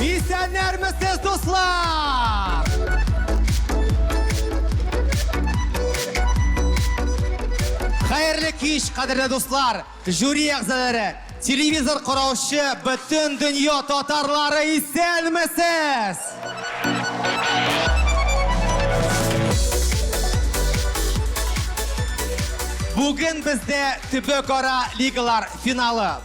Исәннәрмесез, дуслар! Хәерле кич, кадерле дуслар, жюри әгъзалары, телевизор караучы бөтен дөнья татарлары исәнмесез! Бүген бездә төбәкара лигалар финалы.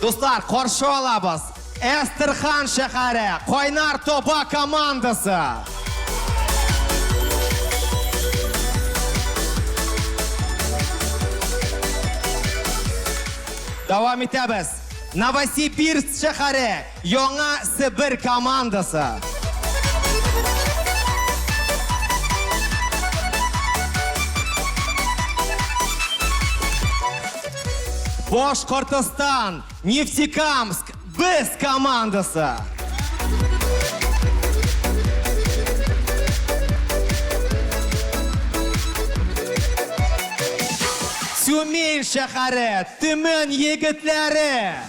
Дуслар, каршы алабыз! Әстерхан шәһәре, Кайнар Тоба командасы! Давам итәбез. Новосибирск шәһәре, Яңа Себер командасы. Башкортостан, Нефтекамск, без командасы. Тюмень шәһәре, Төмән егетләре.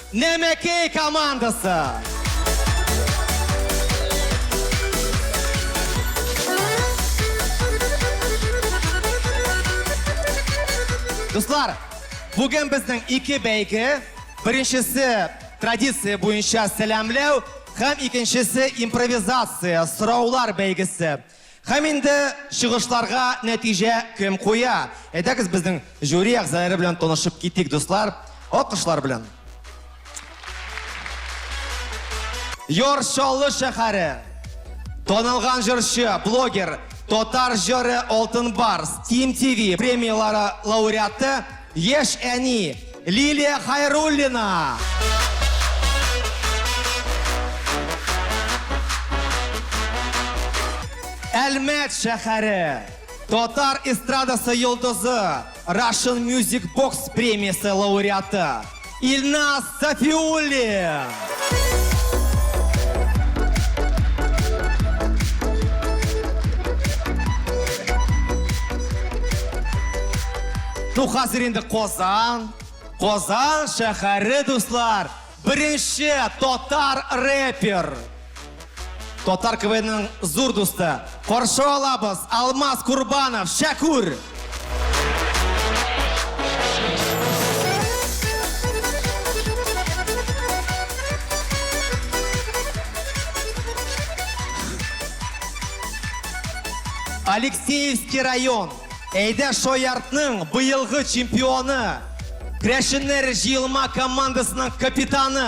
Нәмәкәй командасы! Дуслар, бүген безнең ике бәйге, беренчесе традиция буенча сәламләү һәм икенчесе импровизация, сораулар бәйгесе. Һәм инде чыгышларга нәтиҗә кем куя? Әйдәгез безнең жюри әгъзалары белән танышып китик, дуслар. Алкышлар белән. Яр Чаллы шәһәре. Танылган җырчы, блогер, татар җыры Алтын Барс, Тим ТВ премияләре лауреаты Яшь әни, Лилия Хайруллина! Әлмәт шәхәре татар эстрадасы йолдызы Russian Music Box премиясе лауреаты. Илназ Сафиуллин! Ну, хәзер инде Казан, Казан шәһәре, дуслар, беренче татар рэпер, Татар КВНның зур дусты. Каршы алабыз Алмаз Курбанов, Шәкүр! Алексеевский район Әйдә Шояртның быелгы чемпионы, Крәшеннәр җыелма командасының капитаны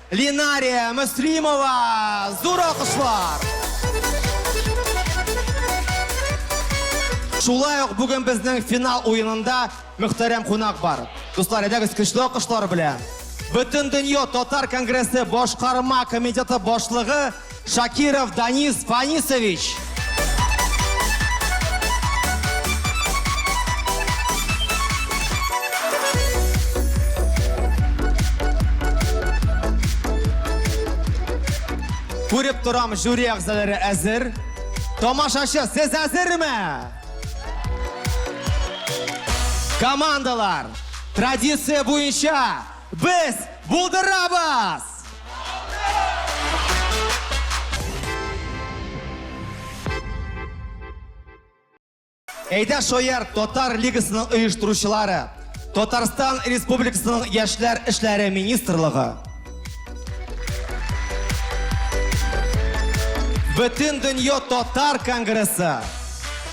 Линария Мөслимова! Зур алкышлар! Шулай ук бүген безнең финал уенында мөхтәрәм кунак бар. Дуслар, әйдәгез көчле алкышлар белән. Бөтендөнья татар конгрессы башкарма комитеты башлыгы Шакиров Данис Фанисович. Күреп торам, жюри әгъзалары әзер. Тамашачы, сез әзерме? Командалар, традиция буенча Без булдырабыз! Әйдә шояр татар лигасының оештыручылары, Татарстан Республикасының яшьләр эшләре министрлыгы, Бөтен дөнья татар конгрессы,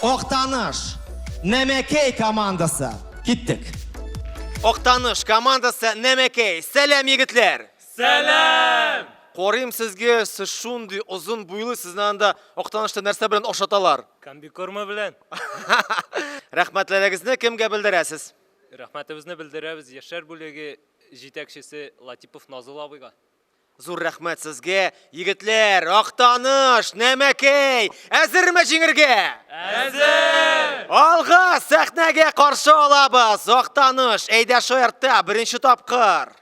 Актаныш, Нәмәкәй командасы. Киттек. Актаныш командасы Нәмәкәй. Сәлам, егетләр! Сәлам! Карыйм сезгә, сез шундый озын буйлы, сезне анда Актанышта нәрсә белән ашаталар? Комбикорма белән. Рәхмәтләрегезне кемгә белдерәсез? Рәхмәтебезне белдерәбез яшьләр бүлеге җитәкчесе Латипов Назыл абыйга. Зур рәхмәт сезгә, егетләр! Актаныш, Нәмәкәй, әзерме җиңергә? Әзер! Алга сәхнәгә каршы алабыз! Актаныш, әйдә шаяртта, беренче тапкыр!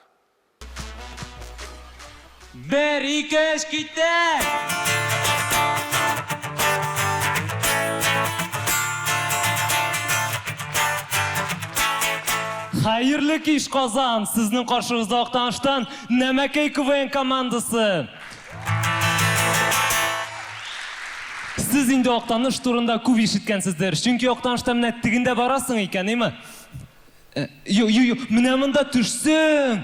Бер, ике, өч, китә! Хәерле кич, Казан! Сезнең каршыгызда Актаныштан Нәмәкәй КВН командасы. Сез инде Актаныш турында күп ишеткәнсездер, чөнки Актанышта менә тегендә барасың икән, име? Юк, юк, юк, менә монда төшсең,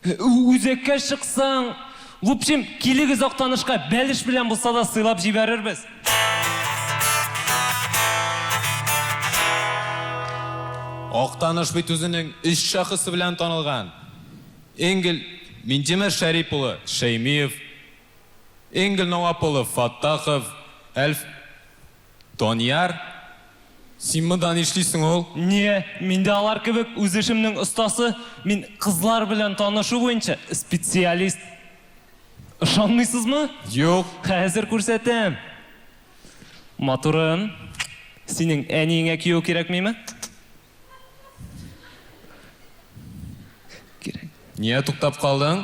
үзәккә чыксаң, в общем, килегез Актанышка, бәлеш белән булса да сыйлап җибәрербез. Актаныш бит үзенең өч шәхесе белән танылган. Энгель Минтимер Шәрип улы Шәймиев, Энгель Науап улы Фаттахов, Әлф Данияр, син монда нишлисең ул? Нигә, мин дә алар кебек үз эшемнең остасы, мин кызлар белән танышу буенча специалист. Ышанмыйсызмы? Юк. Хәзер күрсәтәм. Матурым, синең әниеңә кияү кирәкмиме? Ния туктап калдың?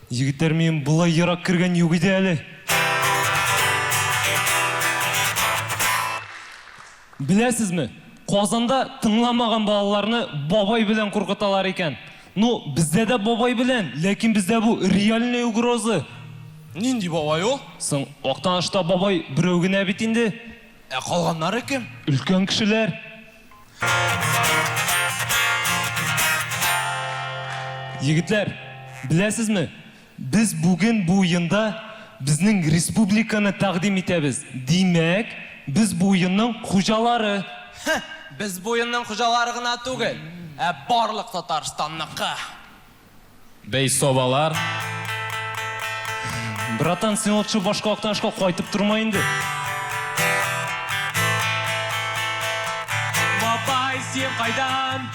Егетләр, минем болай ерак кергән юк иде әле. Беләсезме, Казанда тыңламаган балаларны бабай белән куркыталар икән. Ну, бездә дә бабай белән, ләкин бездә бу реальный угроза. Нинди бабай ул? Соң, Актанышта бабай берәү генә бит инде. Ә калганнары кем? Өлкән кешеләр. Егетләр, беләсезме, без бүген бу уенда безнең республиканы тәкъдим итәбез. Димәк, без бу уенның хуҗалары! Хе, без бу уенның хуҗалары гына түгел, ә барлык Татарстанныкы! Бәй, сабалар. Братан, син лучше башка Актанышка кайтып торма инде. Бабай, син кайдан?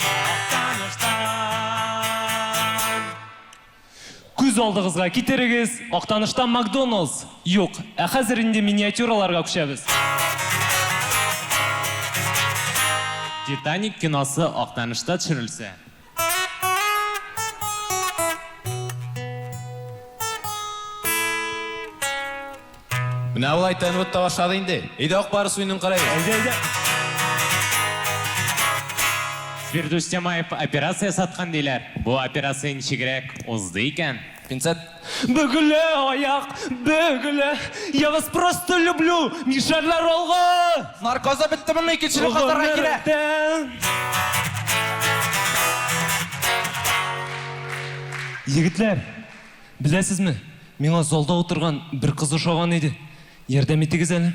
Күз алдыгызга китерегез, Актанышта Макдоналдс юк, ә хәзер инде миниатюраларга күчәбез. Титаник киносы Актанышта төшерелсә. Менә болай тәнвет та башлады инде. Өйдә ак барыс уенын карайбыз. Әйдә, әйдә. Фирдүс Тямаев операция саткан диләр. Бу операция ничегрәк узды икән? Пинцет. Бөгелә аяк, бөгелә. Я вас просто люблю, мишәрләр алга! Наркозы беттемени, икенчене катарга килә. Егетләр, беләсезме, миңа залда утырган бер кыз ошаган иде. Ярдәм итегез әле.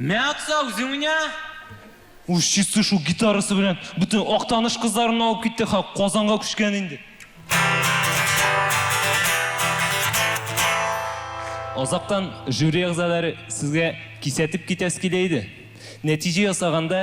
Мә акса үзең уйна! Уж чисы шул гитарасы белән бөтен Актаныш кызларын алып китте һәм Казанга күчкән инде. Азактан жюри әгъзалары сезгә кисәтеп китәсе килә иде. Нәтиҗә ясаганда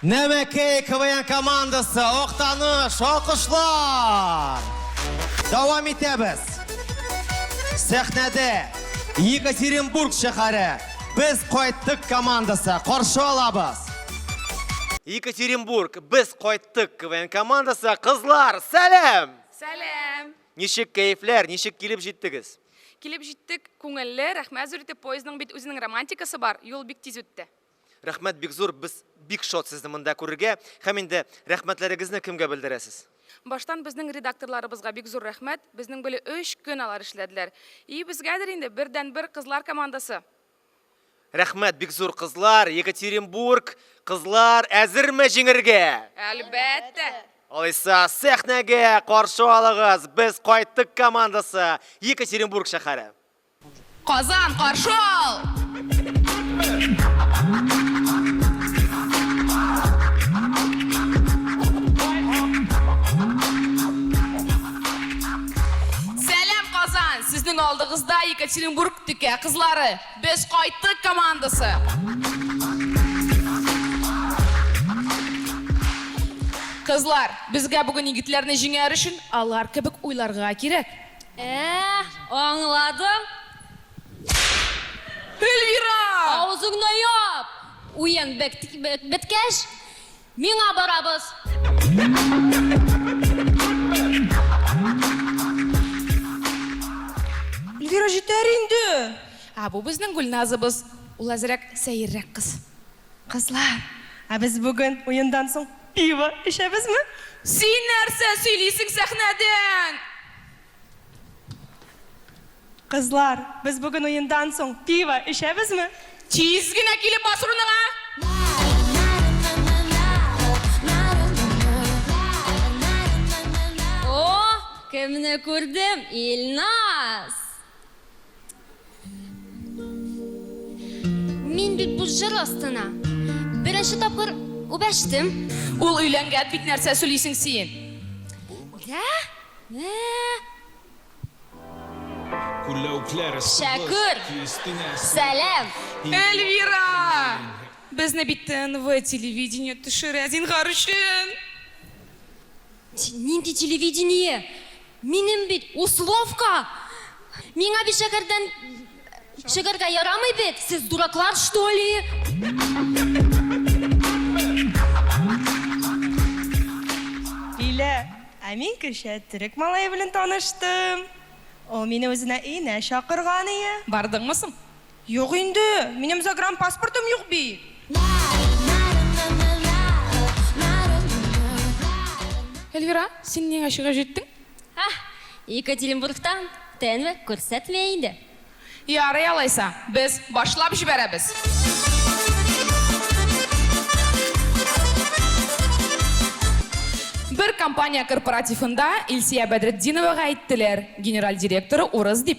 Нәмәкәй КВН командасы, Актаныш, алкышлар! Дәвам итәбез. Сәхнәдә Екатеринбург шәһәре, Без кайттык командасы, каршы алабыз. Екатеринбург, Без кайттык КВН командасы, кызлар, сәлам! Сәлам! Ничек кәефләр, ничек килеп җиттегез? Килеп җиттек, күңелле, рәхмәт зур итеп, поездның бит үзенең романтикасы бар, юл бик тиз үтте. Рәхмәт бик зур, без бик шат сезне монда күрергә. Һәм инде рәхмәтләрегезне кемгә белдерәсез? Баштан безнең редакторларыбызга бик зур рәхмәт. Безнең беле өч көн алар эшләделәр. И безгәдер инде бердәнбер кызлар командасы. Рәхмәт бик зур кызлар, Екатеринбург, кызлар әзерме җиңергә? Әлбәттә! Алайса сәхнәгә каршы алыгыз, без кайттык командасы, Екатеринбург шәһәре! Казан, каршы ал! Сәлам, Казан! Сезнең алдыгызда Екатеринбург текә кызлары, Без кайттык командасы! Кызлар, безгә бүген егетләрне җиңәр өчен алар кебек уйларга кирәк. Әәә, аңладым. Эльвира! Авызыңны яп! Уен беткәч, миңа барабыз. Эльвира, җитәр инде! Ә бу безнең Гөлназыбыз. Ул әзрәк сәеррәк кыз. Кызлар, ә без бүген уендан соң пиво эчәбезме? Син нәрсә сөйлисең сәхнәдән? Кызлар, без бүген уендан соң пиво эчәбезме? Тиз генә килеп бас урыныңа! О, кемне күрдем, Илназ! Мин бит бу җыр астына беренче тапкыр үбәштем. Ул өйләнгән бит нәрсә сөйлисең син? Дә? Нә? Күләүкләр Шәкүр! Сәлам! Эльвира! Безне бит ТНВ телевидение төшерә, зинхар өчен! Нинди телевидение? Минем бит условка! Миңа бит шәкәрдән шәкәргә ярамый бит! Сез дураклар что ли? Лилә, Ә мин кичә төрек малае белән таныштым. Ул мине үзенә өенә чакырган ие. Бардыңмы соң? Юк инде, минем загранпаспортым юк бит. Эльвира, син нигә чыгып җиттең? Ах, Екатеринбургта тнв күрсәтмә инде. Ярый алайса, без башлап җибәрәбез. Бер компания корпоративында Илсия Бәдретдиновага әйттеләр, генераль директоры урыс дип.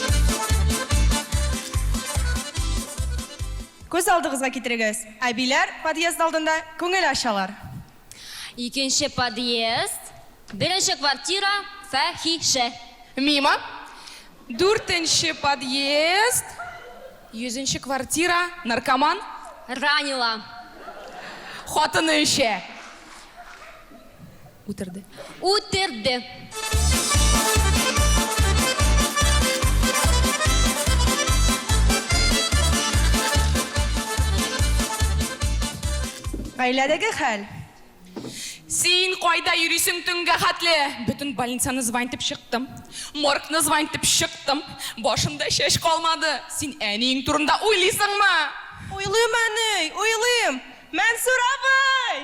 Күз алдыгызга китерегез, әбиләр подъезд алдында күңел ачалар. Икенче подъезд. Беренче квартира, фәхишә. Мимо. Дүртенче подъезд. Йөзенче квартира, наркоман. Ранила. Хатыны эчә. Үтерде. Үтерде. Гаиләдәге хәл. Син кайда йөрисең төнгә хәтле? Бөтен больницаны звонить итеп чыктым. Моргны звонить итеп чыктым. Башымда чәч калмады. Син әниең турында уйлыйсыңмы? Уйлыйм, әни, уйлыйм. Мәнсүр абый!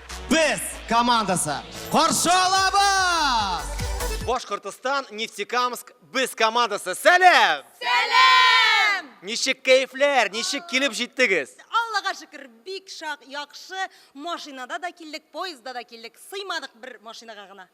Без командасы каршы алабыз! Башкортостан Нефтекамск без командасы. Сәлам! Сәлам! Ничек кәефләр, ничек килеп җиттегез? Аллага шөкер, бик шак, яхшы. Машинада да килдек, поездда да килдек. Сыймадык бер машинага гына.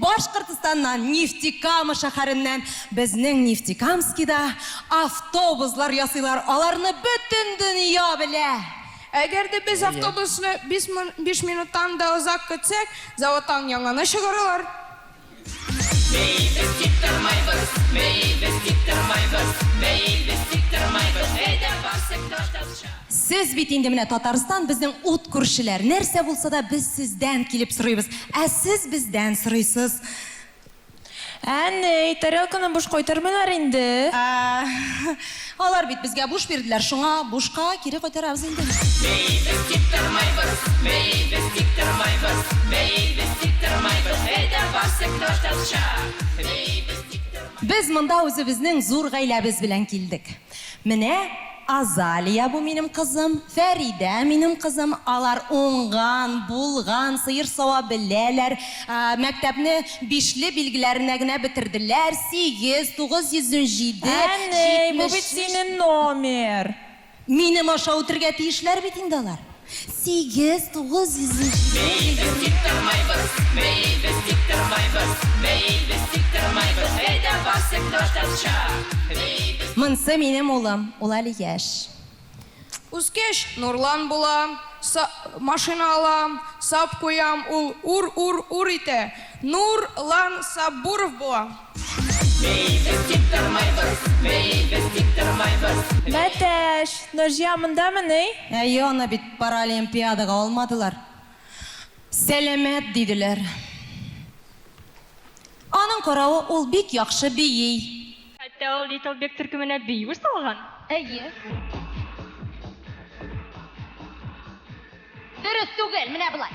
Башкортстаннан, Нефтекама шәһәреннән безнең Нефтекамскида автобуслар ясыйлар, аларны бөтен дөнья белә. Әгәр дә без автобусны биш минуттан да озак көтсәк, заводтан яңаны чыгаралар. Бәй, без тик тормайбыз, бәй, без тик тормайбыз, бәй, без тик тормайбыз, әйдә, барсык та тапшырыйк. Сез бит инде менә Татарстан, безнең ут күршеләр. Нәрсә булса да без сездән килеп сорыйбыз, ә сез бездән сорыйсыз. Әнней, тарелканы буш кайтармыйлар инде? Ә, алар бит безгә буш бирделәр, шуңа бушка кире кайтарабыз инде. Бейибез, тик тормыйбыз, бейибез, тик тормыйбыз, бейибез, тик тормыйбыз, әйдә, барсык татарча, бейибез, тик тормыйбыз. Без монда үзебезнең зур гаиләбез белән килдек. Менә Азалия бу минем кызым, Фәридә минем кызым, алар уңган, булган, сыер сава беләләр, мәктәпне бишле билгеләренә генә бетерделәр, сигез, тугыз йөз унҗиде, җитмеш өч. Әни, бу бит синен номер. Минем аша үтергә тиешләр бит инде алар. Сигез, тугыз йөз ел җиде. Бәй, без тик тормайбыз, бәй, без тик тормайбыз, бәй, без тик тормайбыз, әйдә барсык татарча, бәй, без. Монсы минем улым, ул әле яшь. Үскәч, Нурлан була, са, машина ала, сап куям, ул ур-ур-ур итә, Нур, лан, Саббуров була. Мәтәш, Наҗия мондамыни? Әйе, аны бит паралимпиадага алмадылар. Сәламәт диделәр. Аның каравы, ул бик яхшы бии. Хәтта ул Литл Биг төркеменә бию салган. Әйе. Дөрес түгел, менә болай.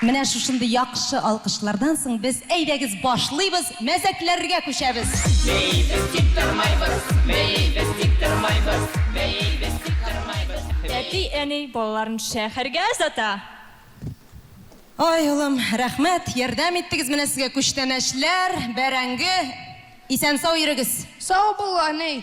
Менә шушындый яхшы алкышлардан соң без, әйдәгез, башлыйбыз, мәзәкләргә күчәбез! Бейибез, тик тормайбыз, бейибез, тик тормайбыз, бейибез, тик тормайбыз, бейибез. Әти-әни балаларын шәһәргә озата. Ай, улым, рәхмәт, ярдәм иттегез, менә сезгә күчтәнәчләр, бәрәңге. Исән-сау йөрегез! Сау бул, әни!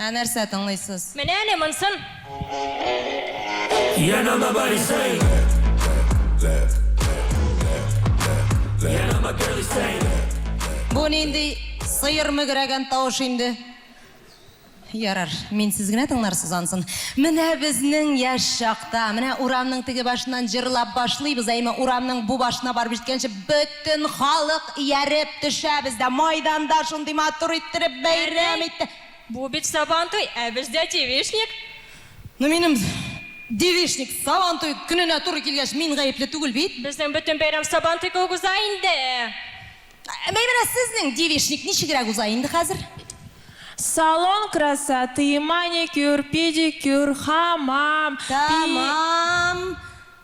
Ә нәрсә тыңлыйсыз? Менә әле монсын! Яныма барисың. Яныма керисең. Бу нинди сыер мөгрәгән тавыш инде? Ярар, мин сез генә тыңларсыз ансын. Менә безнең яшь чакта, менә урамның теге башыннан җырлап башлыйбыз, әйме, урамның бу башына барып җиткәнче бөт. Бөтен халык ияреп төшә бездә. Майданда шундый матур иттереп бәйрәм итте. Бу бит Сабантуй, ә бездә Девичник. Ну минем Девичник, Сабантуй көненә туры килгәч, мин гаепле түгел бит. Безнең бөтен бәйрәм Сабантуй кебек уза инде. Әй менә сезнең Девичник ничегрәк уза инде хәзер? Салон красоты, маникюр, педикюр, хамам, пи. Тәмам.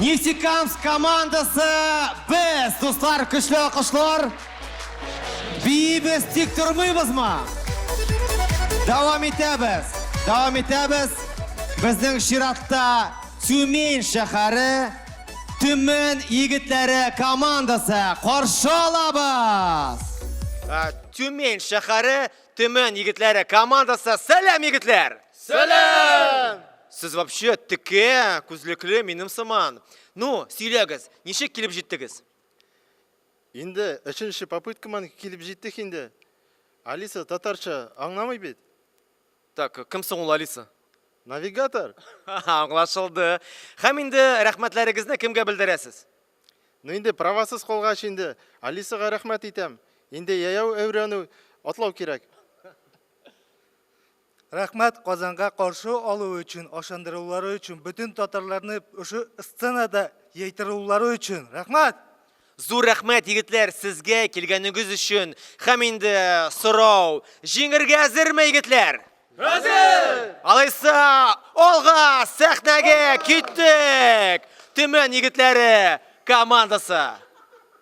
Нефтекамск командасы без, дуслар, көчле алкышлар. Бибез тик тормыйбызмы? Дәвам итәбез. Дәвам итәбез. Безнең чиратта Тюмень шәһәре Төмен егетләре командасы каршы алабыз. Тюмень шәһәре Төмен егетләре командасы сәлам егетләр! Сәлам! Сез вообще текә, күзлекле, минем сыман. Ну, сөйләгез, ничек килеп җиттегез? Инде өченче попыткаман килеп җиттек инде. Алиса татарча аңламый бит. Так, кем соң ул Алиса? Навигатор. Аңлашылды. Хәм инде рәхмәтләрегезне кемгә белдерәсез? Ну инде правасыз калгач инде Алисага рәхмәт итәм. Инде яяу әүрәнү, атлау кирәк. Рәхмәт Казанга каршы алуы өчен, ашандырулары өчен, бөтен татарларны ошы сценада яйтырулары өчен. Рәхмәт! Зур рәхмәт, егетләр, сезгә килгәнегез өчен. Хәм инде сорау, җиңергә әзерме, егетләр? Әзер! Алайса, алга, сәхнәгә киттек! Төмән егетләре командасы!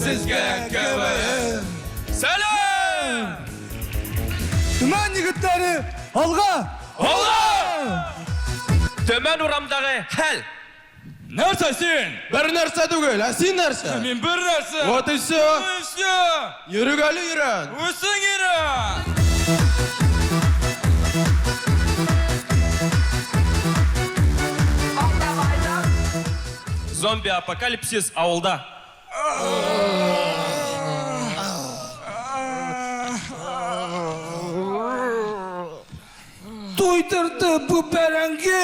Сезгә КВН! Сәлам! Төмән егетләре, алга! Алга! Төмән урамдагы хәл! Нәрсә син? Бер нәрсә түгел, ә син нәрсә? Мин бер нәрсә! Вот и все! Вот и все! Йөрик әле өйрән! Үзең өйрән! Зомби апокалипсис авылда. Туйдырды бу бәрәңге.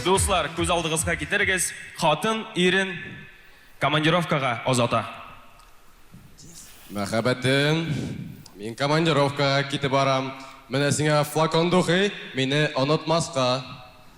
Дуслар, күз алдыгызга китерегез, хатын ирен командировкага озата. Мәхәббәтем, мин командировкага китеп барам. Менә сиңа флакон духи, мине онытмаска.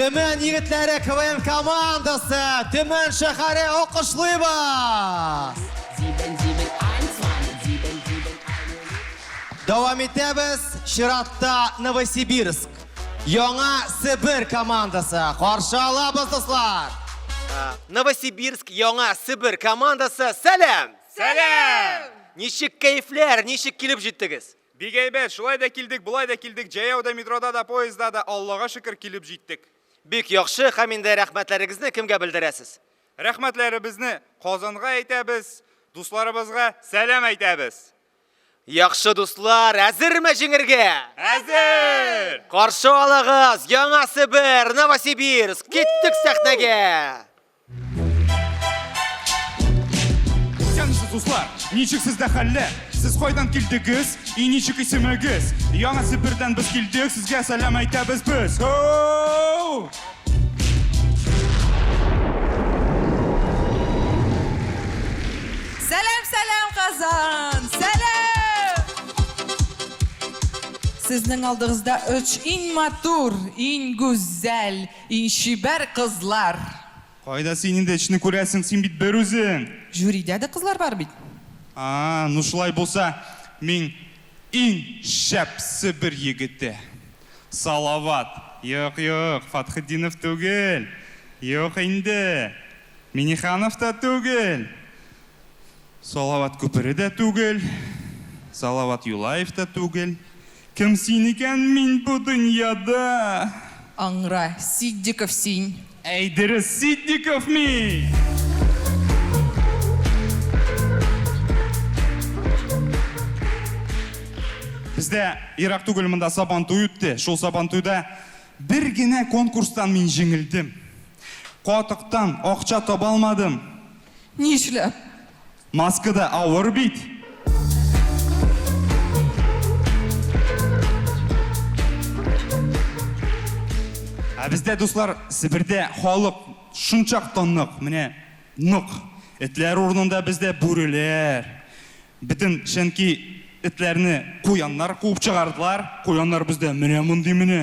Төмән егетләре КВН командасы Төмән шәһәре алкышлыйба! Дәвам итәбез чиратта Новосибирск. Яңа Себер командасы каршы алабыз, дуслар! Новосибирск Яңа Себер командасы, сәлам! Сәлам! Ничек кәефләр, ничек килеп җиттегез? Бик әйбәт, шулай да килдек, болай да килдек, җәяү дә, метрода да, поезда да, Аллага шөкер, килеп җиттек. Бик яхшы, һәм инде рәхмәтләрегезне кемгә белдерәсез? Рәхмәтләребезне Казанга әйтәбез, дусларыбызга сәлам әйтәбез. Яхшы дуслар, әзерме җиңергә? Әзер! Каршы алыгыз, Яңа Себер, Новосибирск, киттек сәхнәгә! Исәнмесез, дуслар! Ничек сездә хәлләр? Сез кайдан килдегез? И ничек исемегез? Яңа Себердән без килдек, сезгә сәлам әйтәбез без! Һоу! Сезнең алдыгызда өч иң матур, иң гүзәл, иң чибәр кызлар. Кайда син инде эчне күрәсең, син бит бер үзең. Жюридә дә кызлар бар бит. А, ну шулай булса, мин Иң шәп Себер егете! Салават! Юк, юк, Фатхетдинов түгел! Юк инде! Миниханов та түгел! Салават Күпере дә түгел! Салават Юлаев та түгел! Кем син икән мин бу дөньяда? Аңра, Ситдиков син! Әй дөрес Ситдиков мин! Бездә ерак түгел монда Сабантуй үтте. Шул Сабантуйда бер генә конкурстан мин җиңелдем. Катыктан акча таба алмадым. Нишләп? Маска да авыр бит. Ә бездә, дуслар, Себердә халык шунчак та нык, менә нык. Этләр урынында бездә бүреләр. Бөтен чөнки этләрне куяннар куып чыгардылар. Куяннар бездә менә мондый менә.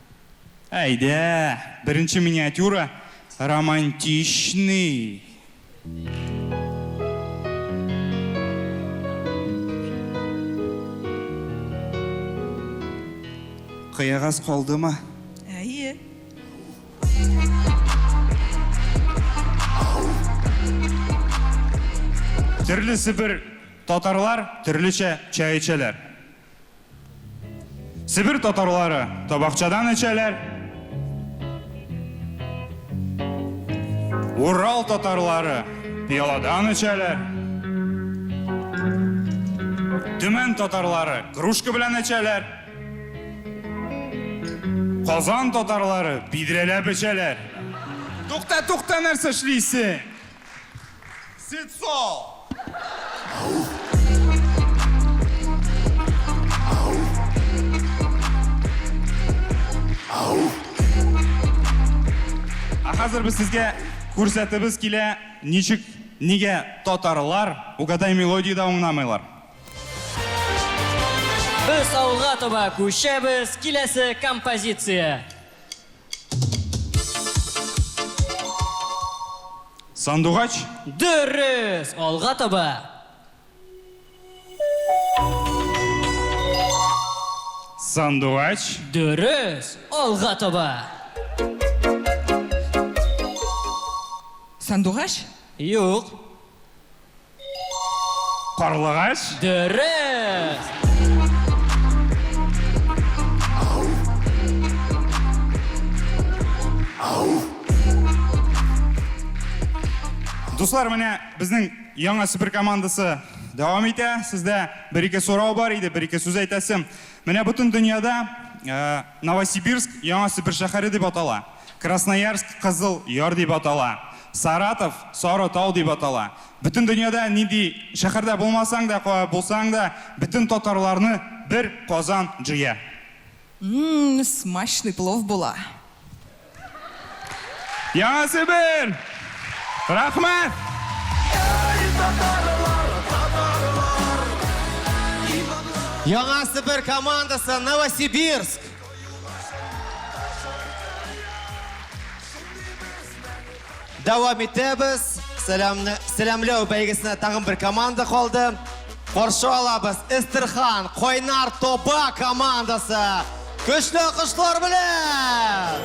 Әйдә, беренче миниатюра, романтичный. Кыягаз калдымы? Әйе. Төрлесе бер татарлар төрлечә чәй эчәләр. Себер татарлары табакчадан эчәләр. Урал татарлары пиаладан эчәләр. Төмән татарлары кружка белән эчәләр. Казан татарлары бидрәләп эчәләр. Тукта, тукта, нәрсә эшлисең? Ә хәзер без сезгә күрсәтебез килә, ничек, нигә татарлар Угадай мелодию да уңнамыйлар. Без авылга таба күчәбез, киләсе композиция. Сандугач? Дөрес! Алга таба! Сандугач? Дөрес! Алга таба! Сандугач? Юк. Карлыгач? Дөрес! Дуслар, менә безнең яңа супер командасы дәвам итә. Сездә бер-ике сорау бар иде, бер-ике сүз әйтәсем. Менә бөтен дөньяда э, Новосибирск, Яңа Себер шәһәре дип атала. Красноярск, Кызыл Яр дип атала. Саратов, Сары Тау дип атала. Бөтен дөньяда нинди шәһәрдә булмасаң да, кая булсаң да, бөтен татарларны бер Казан җыя. Ммм, смачный плов була. Яңа Себер! Рәхмәт! Яңа Себер командасы Новосибирск! Дәвам итәбез. Сәламне, сәламләү бәйгесенә тагын бер команда калды. Каршы алабыз Эстерхан Койнар Тоба командасы. Көчле алкышлар белән!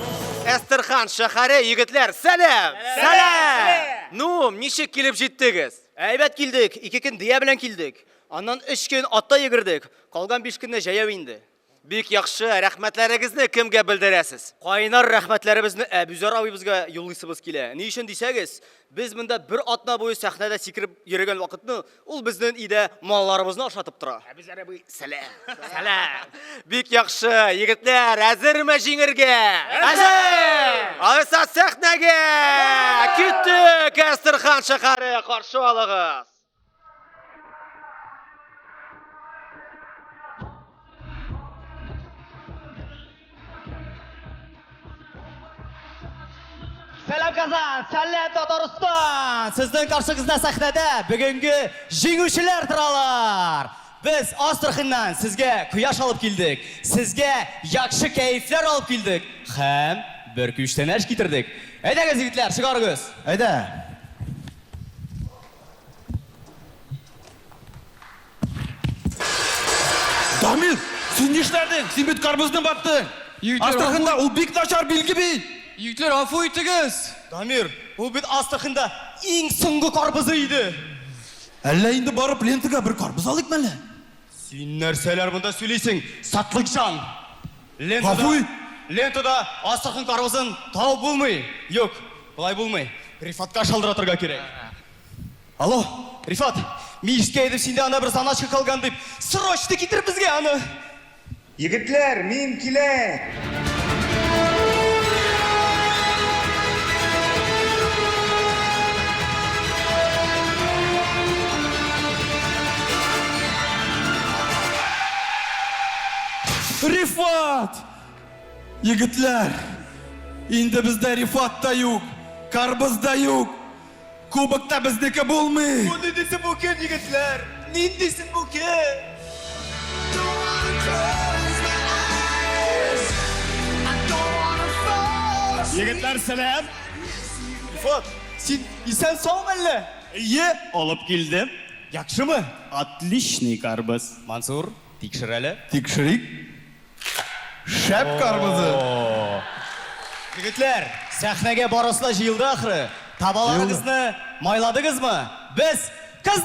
Эстерхан шәһәре егетләр, сәлам! Сәлам! Ну, ничек килеп җиттегез? Әйбәт килдек, ике көн дөя белән килдек. Аннан өч көн атта йөгердек. Калган биш көнне җәяү инде. Бик яхшы, рәхмәтләрегезне кемгә белдерәсез? Кайнар рәхмәтләребезне Әбүзәр абыйбызга юллыйсыбыз килә. Ни өчен дисәгез, без монда бер атна буе сәхнәдә сикереп йөрегән вакытны ул безнен идә малларыбызны ашатып тора. Әбүзәр абый, сәлам. Сәлам. Бик яхшы, егетләр, әзерме җиңергә? Әзер! Алайса сәхнәгә! Көтү Кәстерхан шәһәре каршы алыгыз. Сәлам Казан, сәлам Татарстан. Сезнең каршыгызда сәхнәдә бүгенге җиңүчеләр торалар. Без Астраханнан сезгә кояш алып килдек. Сезгә яхшы кәефләр алып килдек һәм бер күчтәнәч китердек. Әйдәгез, егетләр, чыгарыгыз. Әйдә. Дамир, син нишләдең? Син бит карбызны баттың. Астраханда ул бик начар билге бит. Егетләр, афу итегез. Дамир, ул бит Астраханда иң соңгы карбызы иде. Әллә инде барып лентага бер карбыз алыйк мәле? Син нәрсәләр монда сөйлисең, сатлыкҗан? Лентада, лентада астрахань парвызын табып булмый. Юк, болай булмый. Рифатка шалтыратырга кирәк. Алло, Рифат, мин ишеткән идем, синдә анда бер заначка калган дип. Срочно китер безгә аны! Егетләр, мин киләм! Рифат! Егетләр, инде бездә Рифат та юк, Карбыз да юк. Кубокта безнеке булмый! Бу ниндисе бу кем, егетләр? Ниндисе бу кем? Егетләр, сәлам! Илфат, син исән саумы әллә? Әйе, алып килдем. Яхшымы? Отличный карбыз. Мансур. Тикшер әле. Тикшерик. Шәп карбызы! О-о-о! Егетләр, сәхнәгә барысы да җыелды ахры. Табаларыгызны майладыгызмы? Без кыз.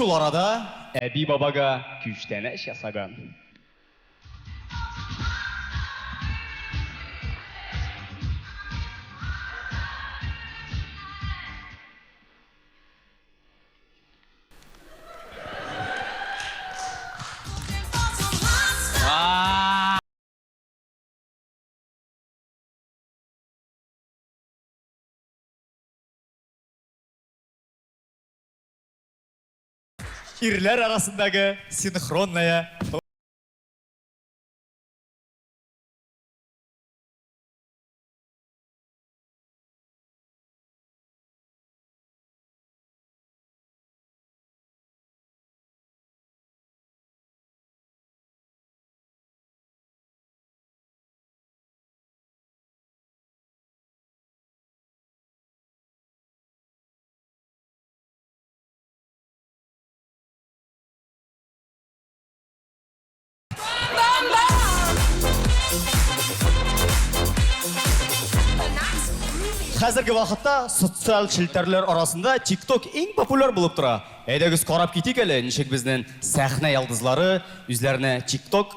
Шул арада әби-бабага күчтәнәч ясаган. Ирләр арасындагы синхронная Хәзерге вакытта социаль челтәрләр арасында TikTok иң популяр булып тора. Әйдәгез карап китик әле, ничек безнең сәхнә ялдызлары үзләренә TikTok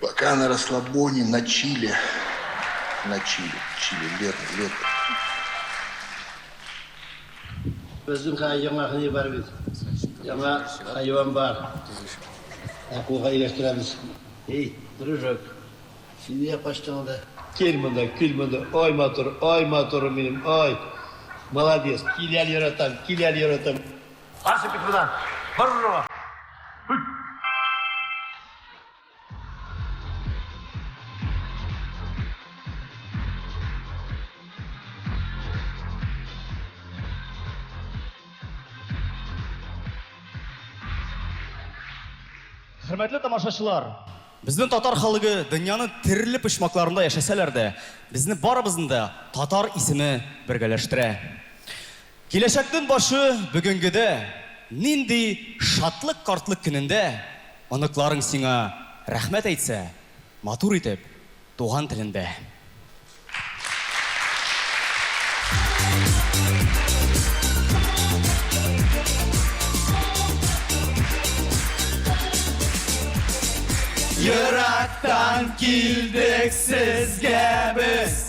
Пока на расслабоне, на чиле. На чиле, чиле, лето, лето. Безнең кая яңа хәйван бар бит. Яңа хайван бар. Акулга ияләштерәбез. Эй, дружок, син нигә качтың анда? Кил монда, кил монда, ай матур, ай матурым минем, ай. Молодец, кил әле яратам, кил әле яратам. Барсы бит буда. Баррыга. Хөрмәтле тамашачылар, безнең татар халыгы дөньяның төрле почмакларында яшәсәләр дә, безне барыбызны да татар исеме бергәләштерә. Киләчәкнең башы бүгенгедә, нинди шатлык картлык көнендә оныкларың сиңа рәхмәт әйтсә, матур итеп, туган телендә. Ерактан килдек сезгә без.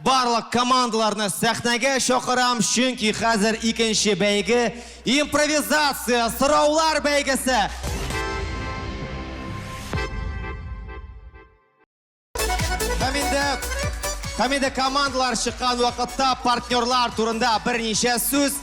Барлык командаларны сәхнәгә чакырам, чөнки хәзер икенче бәйге, импровизация сораулар бәйгесе! Һәм инде, һәм инде командалар чыккан вакытта партнерлар турында берничә сүз.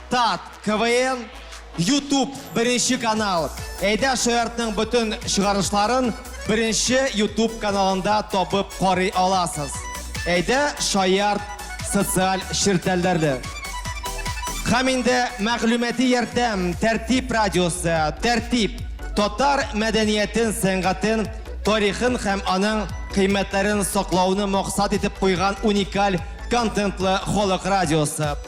Тат, КВН, Ютуб, беренче канал. Әйдә Шаяртның бөтен чыгарышларын беренче Ютуб каналында табып карый аласыз. Әйдә Шаярт социаль ширтәлдәрле. Һәм инде мәгълүмати ярдәм Тәртип радиосы, Тәртип татар мәдәниятен, сәнгатен, тарихын һәм аның кыйммәтләрен саклауны максат итеп куйган уникаль контентлы халык радиосы.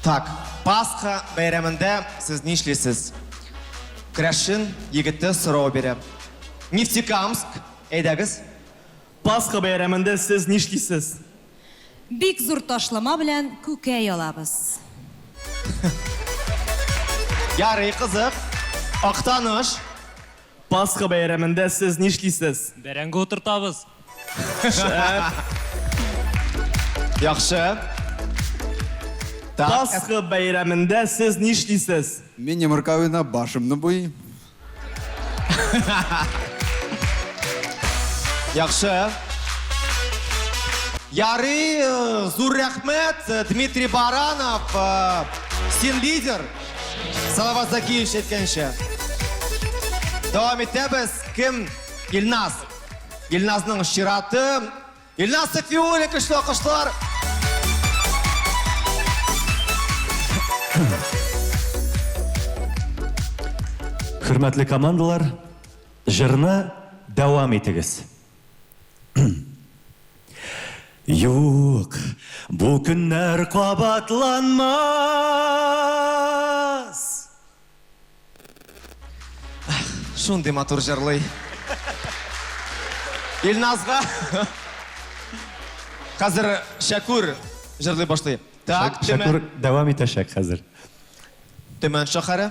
Так, Пасха бәйрәмендә сез нишлисез? Крәшен егете сорау бирә. Нефтекамск, әйдәгез. Пасха бәйрәмендә сез нишлисез? Бик зур ташлама белән күкәй алабыз. Ярый, кызык. Актаныш. Пасха бәйрәмендә сез нишлисез? Бәрәңге утыртабыз. Шәп. Яхшы. Так. Пасха бәйрәмендә сез нишлисез? Мин йомырка уйнап башымны буйыйм. Яхшы. Ярый, зур рәхмәт, Дмитрий Баранов, син лидер. Салават Закиевич әйткәнчә. Дәвам итәбез. Кем? Илназ. Илназның чираты. Илназ Сафиуллин көчле алкышлар. Хөрмәтле командалар, җырны дәвам итегез. Юк, бу көннәр кабатланмас! Ах, шундый матур җырлый. Илназга. Хәзер Шәкүр җырлый башлый. Так, Шәкүр дәвам итәчәк хәзер. Төмән шәһәре.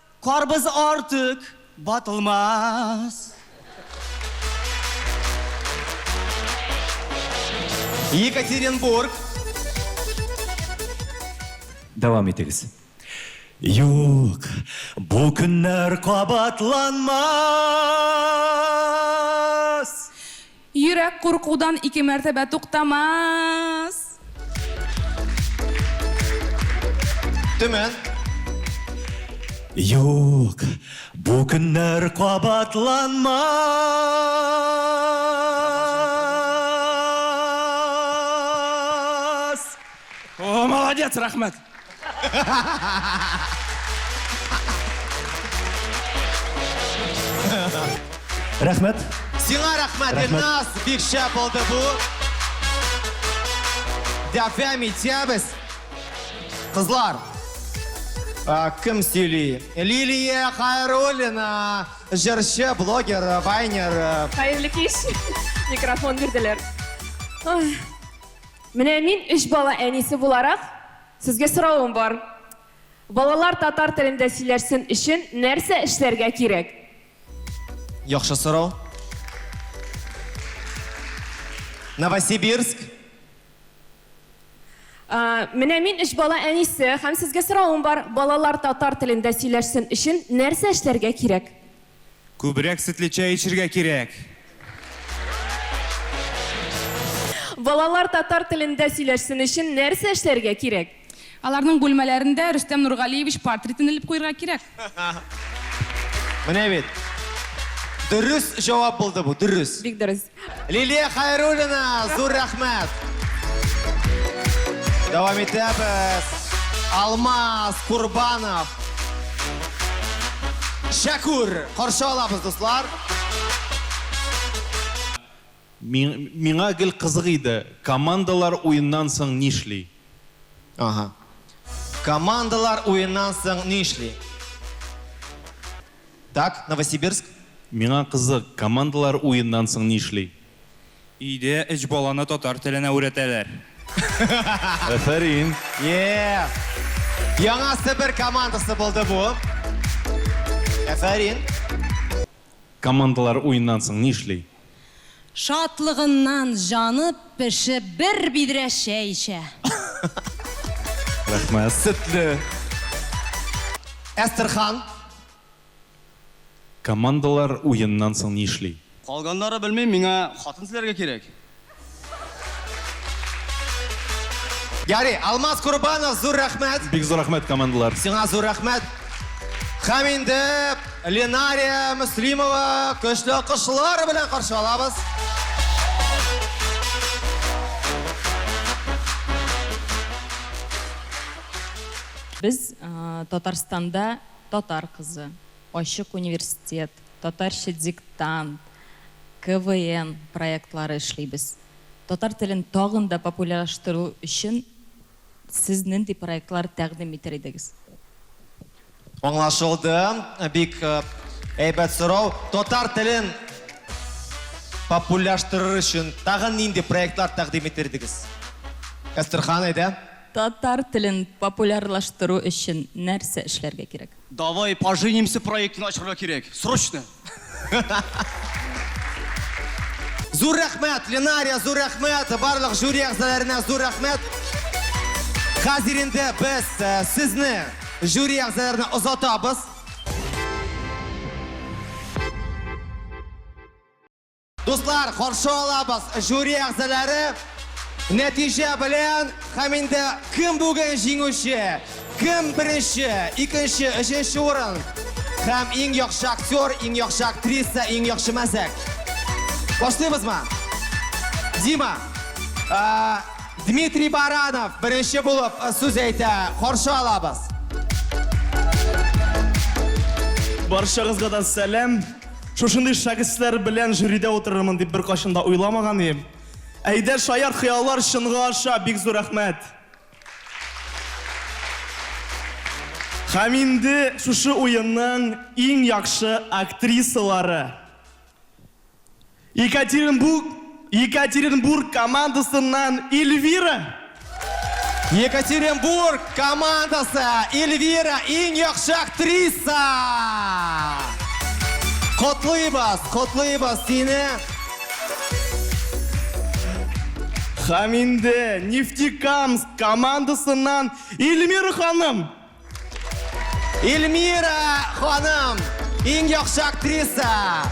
Карбыз артык батылмас. Екатеринбург. Дәвам итегез. Юк, бу көннәр кабатланмас. Йөрәк куркудан ике мәртәбә туктамас. Төмән. Юк, бу көннәр кабатланмас. О, молодец, рәхмәт. Рәхмәт. Сиңа рәхмәт, Илназ, бик шәп булды бу. Дәфәм итәбез. Кызлар, а, кем сөйли? Лилия Хайруллина, җырчы, блогер, вайнер. Хәерле кич. Микрофон бирделәр. Ой, Менә мин өч бала әнисе буларак, сезгә соравым бар. Балалар татар телендә сөйләшсен өчен нәрсә эшләргә кирәк? Яхшы сорау. Новосибирск. Менә мин өч бала әнисе һәм сезгә соравым бар, балалар татар телендә сөйләшсен өчен нәрсә эшләргә кирәк? Күбрәк сөтле чәй эчергә кирәк! Балалар татар телендә сөйләшсен өчен нәрсә эшләргә кирәк? Аларның бүлмәләрендә Рөстәм Нургалиевич портритын элеп куерга кирәк. Менә бит! Дөрес җавап булды бу, дөрес! Бик дөрес. Лилия Хайруллина, зур рәхмәт! Дәвам итәбез. Алмаз Курбанов. Шәкүр, каршы алабыз, дуслар. Миңа гел кызык иде, командалар уеннан соң нишли? Аһа. Командалар уеннан соң нишли? Так, Новосибирск? Миңа кызык, командалар уеннан соң нишли? Өйдә өч баланы татар теленә үрәтәләр. Әфәрин! Еее! Яңа Себер командасы булды бу. Әфәрин! Командалар уеннан соң нишли? Шатлыгыннан җаны пешеп бер бидрә чәй эчә. Рәхмәт. Сөтле. Әстерхан. Командалар уеннан соң нишли? Калганнары белмим, миңа хатын эзләргә кирәк. Ярый, Алмаз Курбанов, зур рәхмәт. Бик зур рәхмәт, командалар. Сиңа зур рәхмәт. Хәм инде Ленария Муслимова көчле алкышлар белән каршы алабыз. Без Татарстанда татар кызы, Ачык университет, Татарча диктант, КВН проектлары эшлибез. Татар телен тагын да популяраштыру өчен сез нинди проектлар тәкъдим итәр идегез? Аңлашылды. Бик әйбәт сорау. Татар телен популяраштырыр өчен тагын нинди проектлар тәкъдим итәр идегез? Әстерхан, әйдә. Татар телен популярлаштыру өчен нәрсә эшләргә кирәк? Давай поженимся проектын ачырга кирәк, срочно! Зур рәхмәт, Ленария, зур рәхмәт, барлык жюри әгъзаларына зур рәхмәт. Хәзер инде без э, сезне жюри әгъзаларына озатабыз. Дуслар, каршы алабыз жюри әгъзалары. Нәтиҗә белән һәм инде кем бүген җиңүче, кем беренче, икенче, өченче урын һәм иң яхшы актер, иң яхшы актриса, иң яхшы мәзәк. Башлыйбызмы? Дима, а, Дмитрий Баранов беренче булып э, сүз әйтә. Каршы алабыз. Баршагызга да сәлам. Шушындый шәхесләр белән жюридә утырырмын дип беркайчан да уйламаган идем. Әйдә, шаяр хыяллар чынга аша, бик зур рәхмәт! Һәм инде шушы уенның иң яхшы актрисалары. Екатеринбург Екатеринбург командасыннан Эльвира. Екатеринбург командасы Эльвира иң яхшы актриса. Котлыйбыз, котлыйбыз сине. Хаминде Нефтекамск командасыннан Эльмира ханым. Эльмира ханым, иң яхшы актриса.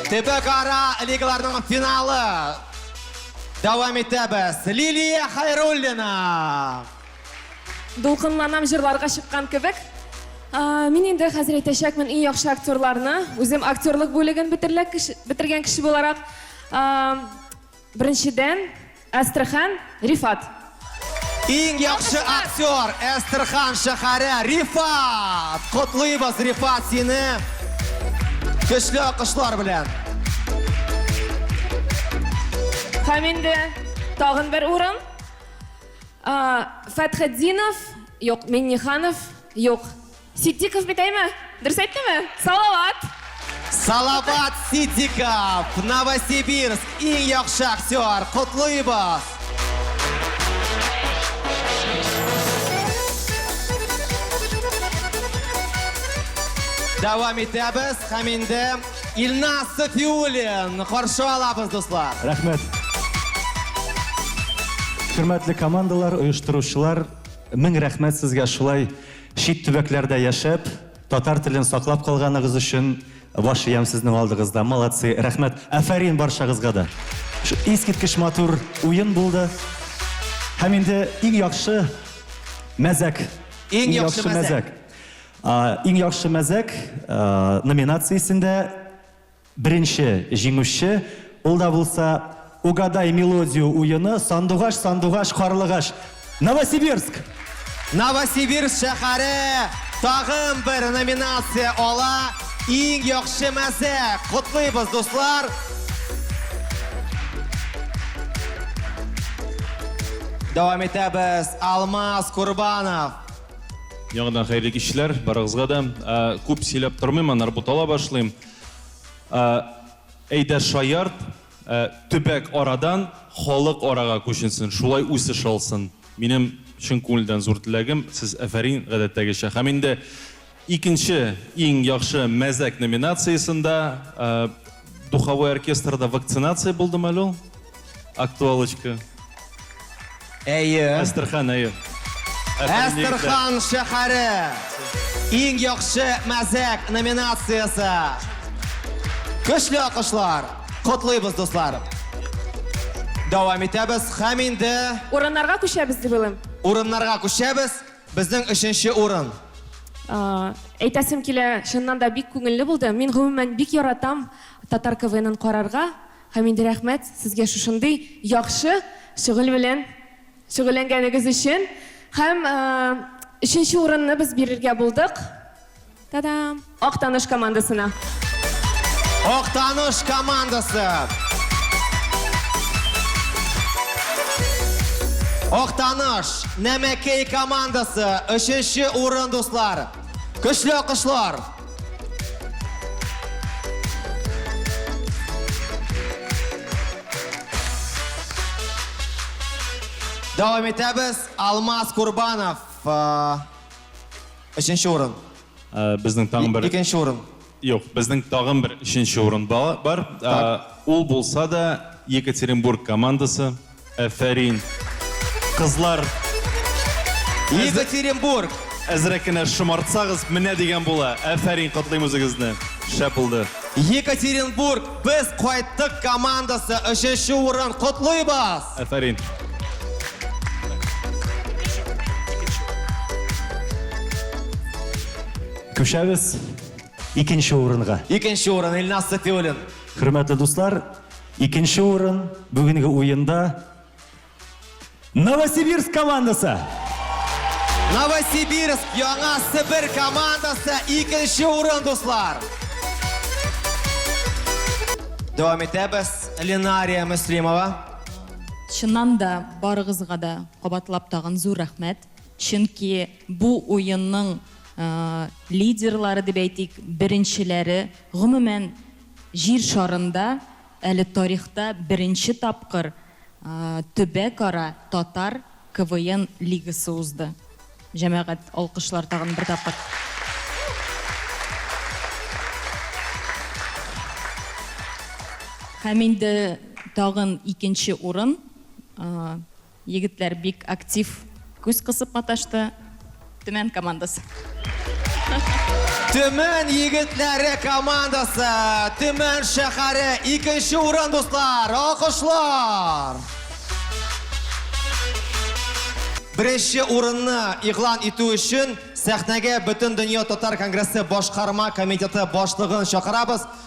Төбәкара лигаларның финалы. Дәвам итәбез. Лилия Хайруллина. Дулкынланам җырларга чыккан кебек. Мин инде хәзер әйтәчәкмен иң яхшы актерларны. Үзем актерлык бүлеген бетерлек бетергән кеше буларак, Беренчедән, Әстерхан, Рифат. Иң яхшы актер, Әстерхан шәһәре, Рифат! Котлыйбыз, Рифат, сине! Көчле акышлар белән! Һәм инде тагын бер урын. Фәтхетдинов, юк, Минниханов, юк. Ситдиков бит әйме? Дөрес әйттеме? Салават! Салават Ситдиков! Новосибирск! Иң яхшы актер! Котлыйбыз! Дәвам итәбез һәм инде Илназ Сафиуллин каршы алабыз, дуслар. Рәхмәт. Хөрмәтле командалар, оештыручылар, мең рәхмәт сезгә шулай Чит төбәкләрдә яшәп, татар телен саклап калганыгыз өчен баш иям сезнең алдыгызда. Молодцы, рәхмәт. Афәрин барчагызга да. Искиткеч матур уен булды. Һәм инде иң яхшы мәзәк. Иң яхшы мәзәк. Иң яхшы мәзәк номинациясендә Беренче җиңүче, ул да булса Угадай мелодию уены, Сандугач, сандугач, карлыгач, Новосибирск! Новосибирск шәһәре тагын бер номинация ала, Иң яхшы мәзәк! Котлыйбыз, дуслар! Дәвам итәбез, Алмаз Курбанов. Яңадан хәерле кичләр, барыгызга да. Күп сөйләп тормыйм, аннары бутала башлыйм. Ә, әйдә шаярт, ә, төбәк арадан халык арага күченсен, шулай үсеш алсын. Минем чын күңелдән зур теләгем, сез әфәрин, гадәттәгечә. Һәм инде икенче иң яхшы мәзәк номинациясендә, ә, духовой оркестрда вакцинация булдымы әле ул? Актуалочка. Әйе. Әстерхан, әйе. Әстерхан шәһәре. Иң яхшы мәзәк номинациясе. Көчле акышлар. Котлыйбыз, дуслар. Дәвам итәбез. Хәм инде Урыннарга күчәбез дип уйлыйм. урыннарга күчәбез. Безнең өченче урын. А, Әйтәсем килә, чыннан да бик күңелле булды. Мин гомумән бик яратам татар КВНын карарга. Хәмиде рәхмәт сезгә шушындый яхшы шөгыль белән шөгыльләнгәнегез өчен һәм өченче урынны без бирергә булдык Та-дам! Актаныш командасына. Актаныш командасы! Актаныш, Нәмәкәй командасы, өченче урын, дуслар! Көчле алкышлар! Дәвам итәбез. Алмаз Курбанов. э, Өченче урын. Э, Безнең тагын бер Икенче урын. Юк, безнең тагын бер өченче урын ба- бар. Э, Ул булса да Екатеринбург командасы. Әфәрин! Кызлар! Екатеринбург! Әзрәк кенә шомартсагыз, менә дигән була. Әфәрин, котлыйм үзегезне. Шәп булды. Екатеринбург, без кайттык командасы, өченче урын, котлыйбыз! Әфәрин. Күчәбез икенче урынга. Икенче урын, Илназ Сафиуллин. Хөрмәтле дуслар! Икенче урын бүгенге уенда Новосибирск командасы. Новосибирск, Яңа Себер командасы икенче урын, дуслар. Дәвам итәбез. Ленария Мөслимова. Чыннан да барыгызга да кабатлап тагын зур рәхмәт. Чөнки бу уенның лидерлары дип әйтик, беренчеләре, гомумән, Җир шарында әле тарихта беренче тапкыр төбәкара татар КВН лигасы узды. Җәмәгать, алкышлар тагын бер тапкыр. Һәм инде тагын икенче урын. Егетләр бик актив күз кысып маташты. Төмән командасы. Төмән егетләре командасы, Төмән шәһәре икенче урын, дуслар! Алкышлар! Беренче урынны игълан итү өчен сәхнәгә Бөтендөнья татар конгрессы башкарма комитеты башлыгын чакырабыз.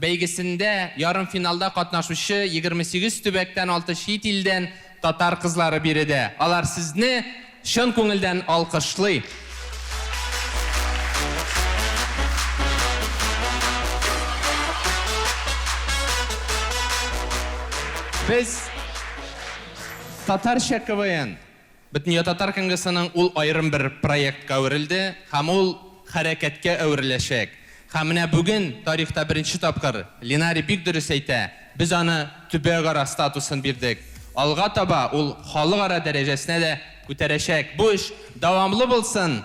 Бәйгесендә ярымфиналда катнашучы егерме сигез төбәктән алты чит илдән татар кызлары биредә. Алар сезне чын күңелдән алкышлый! Без Татарча КВН. Бөтендөньятатар конгрессының ул аерым бер проектка әверелде һәм ул хәрәкәткә әвереләчәк. Һәм менә бүген, тарихта беренче тапкыр, Линари бик дөрес әйтә, без аны төбәгара статусын бирдек. Алга таба ул халыкара дәрәҗәсенә дә күтәрәчәк. Бу эш дәвамлы булсын!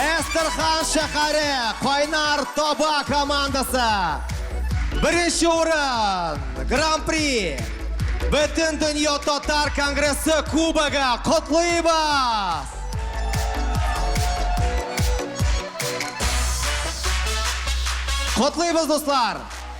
Әстерхан шәһәре Кайнар таба командасы. Беренче урын, гран-при. Бөтен дөнья татар конгрессы кубогы котлыйбыз. Котлыйбыз, дуслар!